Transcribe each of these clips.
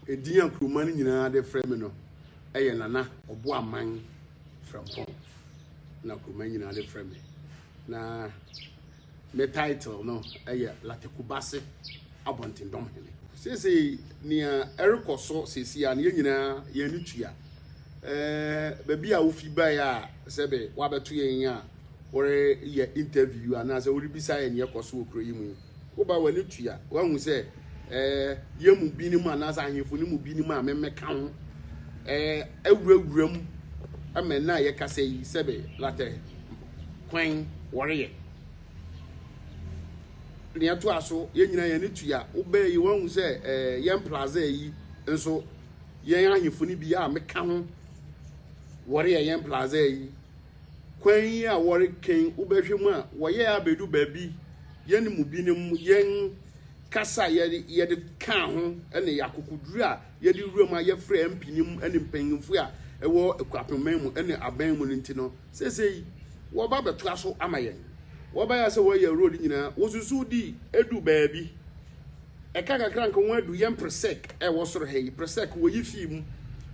Edin a kurowman no nyinaa de frɛ me no yɛ Nana Ɔboaman Frɛmpɔn na kurowman nyinaa de frɛ me. Na me title no yɛ Latekubase Abɔntendɔm Hene. Seesei nea ɛrekɔ so seesei a no yɛn nyinaa yɛn ani tua. Ɛɛ baabi a wofi bae a sɛbe woabɛto yɛn a woreyɛ interview anaasɛ worebisa yɛn nea ɛkɔ so wɔ kuro yi mu yi. Woba w'ani tua, woahu sɛ ɛɛ yɛn mu binom anaasɛ ahemfo no mu binom a memmɛka ho ɛɛ awurawura mu ma nna a yɛkasa yi sɛbe latɛ kwan wɔreyɛ. Nea ɛto a so, yɛn nyinaa yɛn ani tua, wobɛɛ yi woahu sɛ ɛɛ yɛn plaza yi nso yɛn ahemfo no bi a meka ho wɔreyɛ yɛn plaza yi Kwan yi a wɔreken wo bɛhwɛ mu a, wɔyɛɛ abedu baabi, yɛne mu binom, yɛn kasa a yɛde yɛde kaa ho ne yɛn akokoduru a yɛde wuram a yɛfrɛ mpinim ne mpanyimfo a ɛwɔ Akuapemman mu ne aban mu no nti no, seesei wɔba abɛtoa so ama yɛn. Wɔbae a sɛ wɔyɛ road nyinaa, wosusuw di edu baabi. Ɛka kakra nka ho adu yɛn presec ɛwɔ soro ha yi, presec wɔyi fee mu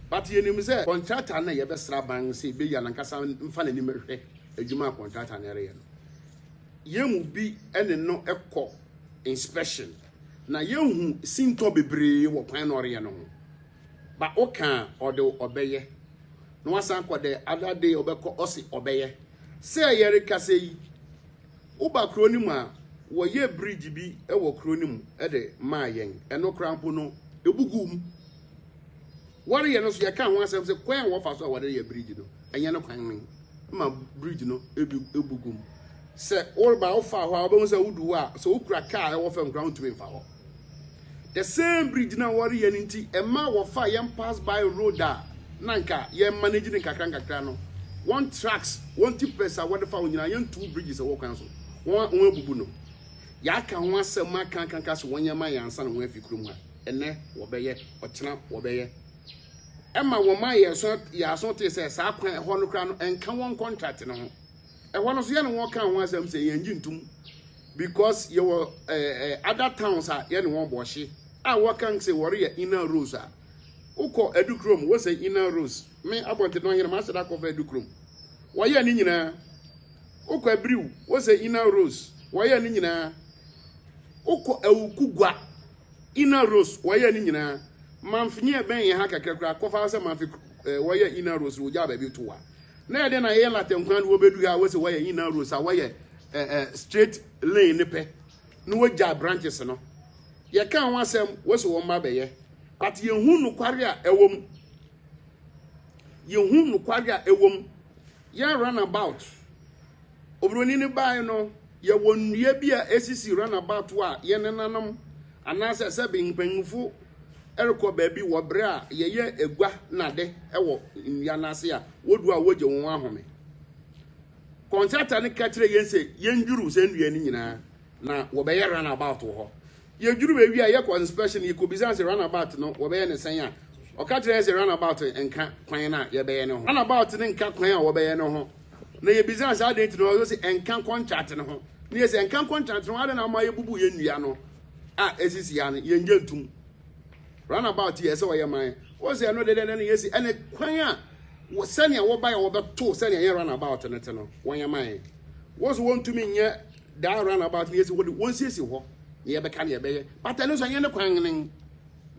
but yɛnim sɛ contractor no na yɛbɛsra ban sɛ ɛbɛyi anankasa mfa n'anim ɛhwɛ adwuma a contractor no ɛreyɛ no. Yɛn mu bi ɛne no ɛkɔ inspection na yɛhu sintɔ bebree wɔ kwan na ɔreyɛ no ho ba ɔka a ɔde ɔbɛyɛ na wasan kɔ the other day ɔbɛkɔ ɔse ɔbɛyɛ sɛ yɛrekasa yi Woba kuro no mu a, wɔyɛɛ bridge bi wɔ kuro no mu de maa yɛn. Ɛno koraa mpo no, ɛbu guu mu. Wɔreyɛ no nso, yɛkaa ho asɛm sɛ kwan a wɔfa so a wɔde yɛ bridge no, ɛnyɛ no kwan no ma bridge no ebi ebu guu mu. Sɛ woreba a, wofaa hɔ a, wobɛhu sɛ wodu hɔ a, sɛ wokura kaa a ɛwɔ fam koraa, wontumi mfa hɔ. The same bridge na wɔreyɛ no nti ɛma wɔfaa yɛn pass by road a na nka yɛn manage no nkakra nkakra no. Wɔn trucks, wɔn tippers a wɔde fa wo nyinaa yɛntu bridges ɛwɔ kwan so. Wɔn wɔn abubu no. Yɛaka ho asɛm aka aka aka sɛ wɔnyɛ ma yɛn ansa na wɔn afi kurom ha. Ɛnɛ wɔbɛyɛ, ɔkyena wɔbɛyɛ. Ɛma wɔn ma yɛn aso yɛn aso tee sɛ saa kwan ɛhɔ no koraa no ɛnka wɔn contract no ho. Ɛhɔ no nso yɛne wɔn kaa ho asɛm sɛ yɛngye ntom because yɛwɔ ɛɛ other towns a yɛne wɔn bɔ ɔhye a wɔka sɛ wɔreyɛ inner roads a wokɔ adukurom wosɛ inner roads me abɔnten no ɔhene mahyɛ da kɔfa adukurom wɔyɛ ne nyinaa wokɔ abiriw wosɛ inner roads wɔyɛ ne nyinaa wokɔ awukugwa inner roads wɔyɛ ne nyinaa manfenyi ɛbɛn yɛn ha kakra kora kɔfa sɛ manfe wɔyɛ inner roads wogya baabi to wa Na ɛdɛn na ɛyɛ latte nkwa no wɔbɛdu ha a wɔsɛ wɔyɛ inner rows a wɔyɛ eh, eh, straight lane ne pɛ na wɔgya branches no yɛka ho asɛm wɔsɛ wɔn mma bɛyɛ but yɛhu nokware a ɛwɔ mu yɛhu nokware a ɛwɔ mu yɛn run about oburoni no baeɛ no yɛwɔ nnua bi a ɛsisi run about a yɛn nenanom anaasɛ sɛbe mpanyimfo rekɔ baabi wɔ bere a yɛyɛ agua nnade wɔ nnua no ase a, wodu a wogye wɔn ahome. Kɔntrata no ka kyerɛ yɛn sɛ yendwiriw saa nnua no nyinaa na wɔbɛyɛ run about wɔ hɔ. Yedwiriw ewie a yɛkɔ inspection yekobisa sɛ run about no wɔbɛyɛ ne sɛn a, ɔka kyerɛ yɛn sɛ run about nka kwan no a yɛbɛyɛ no ho. Run about no nka kwan a wɔbɛyɛ no ho. Na yebisa sɛ adɛn nti na ɔsɛ ɛnka kɔntrata no ho. Na yɛsɛ ɛnka kɔntrata no ho adɛn na ama yɛbubu yɛn nnua no. a esisi ya no yɛn gye ntum runabout yɛ sɛ ɔyɛ man wɔn sɛ ɛno dedeɛ na yɛsi ɛne kwan a sɛnea wɔba yɛ wɔbɛto sɛnea yɛn runabout no te no wɔn yɛ man wɔn so wɔntumi nyɛ daa runabout no yɛsi wɔde wɔn siesie hɔ na yɛbɛka na yɛbɛyɛ bata ɛno so ɛnyɛ ne kwan ne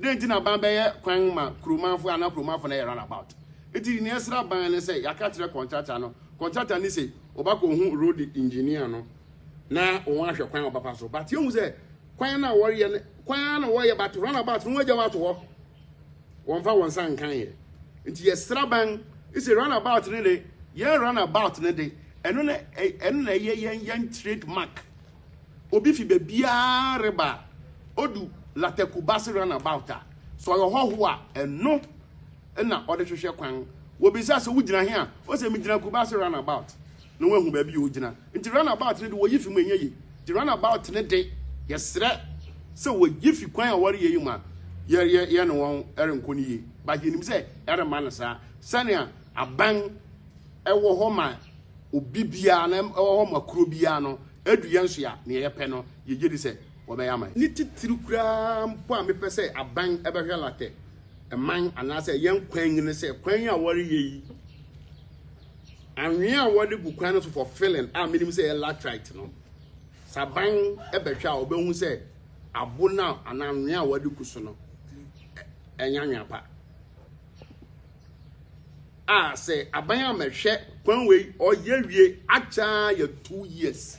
dɛn nti na ban bɛyɛ kwan ma kuromanfo anaa kuromanfo na yɛ runabout nti nea ɛsra ban ne sɛ yɛaka kyerɛ kɔntrata no kɔntrata ne sɛ ɔbɛkɔ hu road engineer no na wɔn ahwɛ kwan a wɔbɛfa so but yɛhu sɛ kwan no a wɔreyɛ no kwan ara na wɔreyɛ but run about no wɔagya wɔato hɔ wɔmfa wɔn nsa nkan yɛ nti yɛsra ban sɛ run about no de yɛn run about no de ɛno na ɛno na ɛyɛ yɛn yɛn trade mark obi fi baabiara reba odu latakuba se run about a sɛ ɔyɛ hɔho a ɛno na ɔde hwehwɛ kwan wɔbisa sɛ wogyina he a ɔsɛ megyina kuba se run about na wɔahu baabi a ɔgyina. Nti run about no de wɔyi fi mu ɛnyɛ ye. Nti run about no de yɛsrɛ sɛ wɔyi fi kwan a wɔreyɛ yi mu a yɛne wɔn renkɔ no yie. But yɛnim sɛ ɛremma no saa. Sɛnea aban ɛwɔ hɔ ma obi biara na ɛwɔ hɔ ma kuro biara no, ɛdu yɛn so a nea yɛpɛ no yɛgye di sɛ wɔbɛyɛ ama yɛn. Ne titiri koraa mpo a mepɛ sɛ aban bɛhwɛ latɛ man anaasɛ yɛn kwan mu ne sɛ kwan yi a wɔreyɛ yi, anwea a wɔde gu kwan no so for filling a menim sɛ yɛ latrite no saban bɛhwɛ a ɔbɛhu sɛ abo no anaa anwea a wɔde gu so no ɛnyɛ anwea pa a sɛ aban a mɛhwɛ kwan wei ɔyɛ wie akyɛ yɛ two years